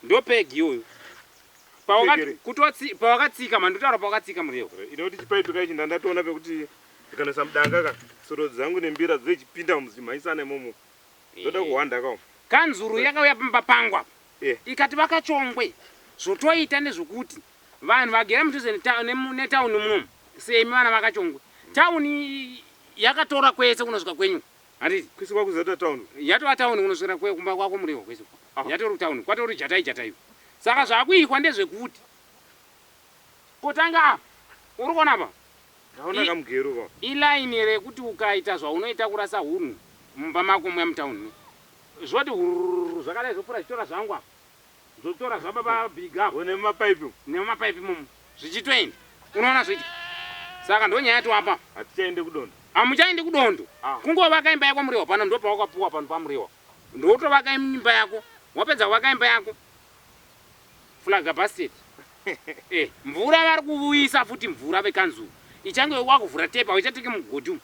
Ndo peg iyoyo. Pawakati pawakatsika mhani ndotaura pawakatsika muriwo. Inoti chipaipi kai chinda ndatoona pekuti ndikanesa mudanga ka soro dzangu nembira dzechipinda muzimhaisana imomo. Ndoda kuhwanda ka. Kanzuru yakauya pamba pangu apa. Yeah. Ikati vakachongwe zvotoita nezvokuti vanhu vagere mudhuze netown munomu semi vana vakachongwe. Town yakatora kwese kunosvika kwenyu. Handiti kwese kwakuzoita town. Yatova town unoswera kwe kumba kwako murehwa kwese uko. Ah. Yatori town kwatori jatai jatai uko. Saka zvakuitwa ndezvekuti kotanga apa uri kuona apa Ndaona I- kamugero ka. iline rekuti ukaita zvaunoita kurasa hunhu mumba mako muya mutown me zvoti hurururu zvakadai zvopfuura zvichitora zvangu apa Zvotora zvaba ba big apo. One muma pipe umu. Nemuma pipe imomo. Zvichitoenda. Unoona zvoita. Saka ndonyaya yati wapa. Hatichaende kudondo. Hamuchaende kudondo. Ah. Kungovaka imba yako muriwa pano ndopawakapuwa pano pamuriwa. Ndotovaka imba yako. Wapedza kuvaka imba yako. Flaga basket. eh, mvura vari kuvuisa futi mvura vekanzuru. Ichange wakuvhura tepa, wechateke mugodhi umu.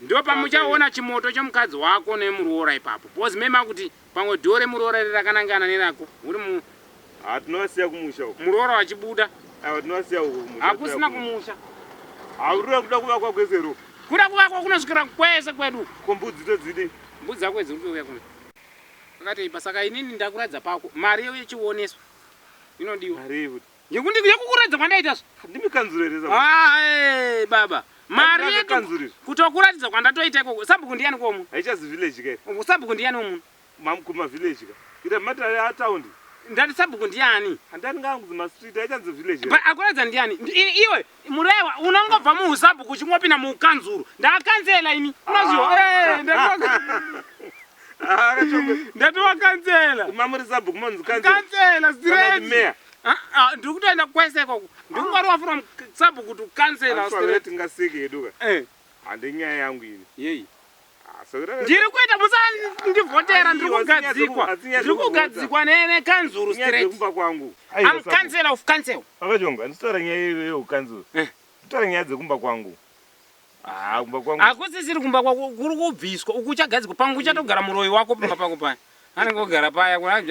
Ndopamuchaona chimoto chomukadzi wako nemuroora ipapo because mei makuti pamwe door remuroora iri rakanangana nerako uri mu Haa tinovasiya kumusha uko. Muroora wachibuda. Ava tinovasiya uko kumusha. Hakusina kumusha. Haurira kuda kuvakwa kwese ro. Kuda kuvakwa kunosvikira kwese kwedu. Ko mbudzi todzidi. Mbudzi dzako idzi urikuuya kuno. Akatei pasaka inini ndakuradza pako. Mari yechioneso inodiwa. Mari yekuti. yekukuradza kwandaita zvae baba mari yedu kutokuratidza kwandatoita ikoko sabhuku ndiyani komu haichazi village ke sabhuku ndiyani womuno mamkuma village ka ira matare ataundi ndati sabhuku ndiyani handati ngaanguzi mastreet haichanzi village akuratidza ndiyani iwe Murewa unongobva muhusabhuku uchingopinda muukanzuru. Ndakanzela ini. Unozviwa. Eh, ndatoka. Ndatoka kanzela. Mamuri sabhuku monzi kanzela. Kanzela straight. Meya. Ah, ah, ndiri kutoenda kwese ikoko. Ndiri kungwarwa from sabhuku to kanzela straight. Tingasike yeduka. Eh. Hande nyaya yangu ini. Yei. ndiri kuita musandivhotera ndiri kugadzikwa ndiri kugadzikwa nekanzuru straightumba kwangu am council of council akachonga nditaura nyaya yeukanzuru eh. nditaura nyaya dzekumba kwangu ah, hakusisiri kumba kwako kuri kubviswa uku uchagadzikwa pangu uchatogara muroyi wako pamba pako paya anenge ogara paya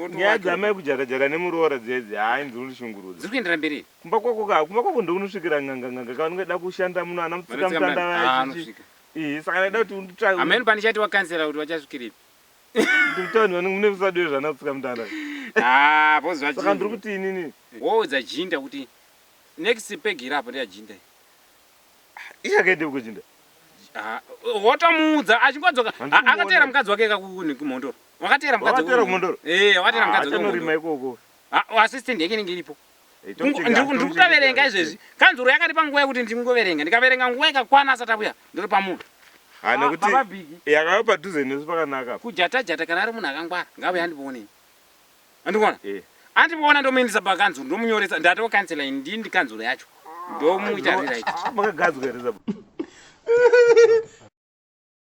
nyaya dzamai kujakajaka nemuroora dzedzi haa inzuri ndishungurudza dziri kuendera mberi kumba kwako ka kumba kwako ndounosvikira nganganganga kavanenge da kushanda muno ana mutsikamutanda vaya Eh, saka ndaida kuti unditsvage. Ameno pandichati wakansela kuti wachasvikiripi. Ndiri kutaura nevanhu mune musadu wezvana kutsika mutanda. Ah, pozva chii? Saka ndiri kuti inini. Woudza Jinda kuti next peg iri apo ndeya Jinda. Iye akaenda uko Jinda. Ah, wotomuudza achingodzoka akateera mukadzi wake kakuni kumhondoro. Wakateera mukadzi wake. Wakateera kumhondoro. Eh, wakateera mukadzi wake. Achanorima ikoko. Ah, assistant yake inenge iripo. ndiri kutoverenga izvezvi kanzuro yakaripa nguva yekuti ndingoverenga ndikaverenga nguva ikakwana asati avuya ndiri pamunhu ah, nekuti ah, yakava padhuze nesu pakanaka kujatajata kana ari munhu akangwara ngavuya andipoonei andikuona eh. andipoona ndomuindisa pakanzuro ndomunyoresa ndatoo kansela ini ndii ndikanzuro yacho ndomuita ririt ah,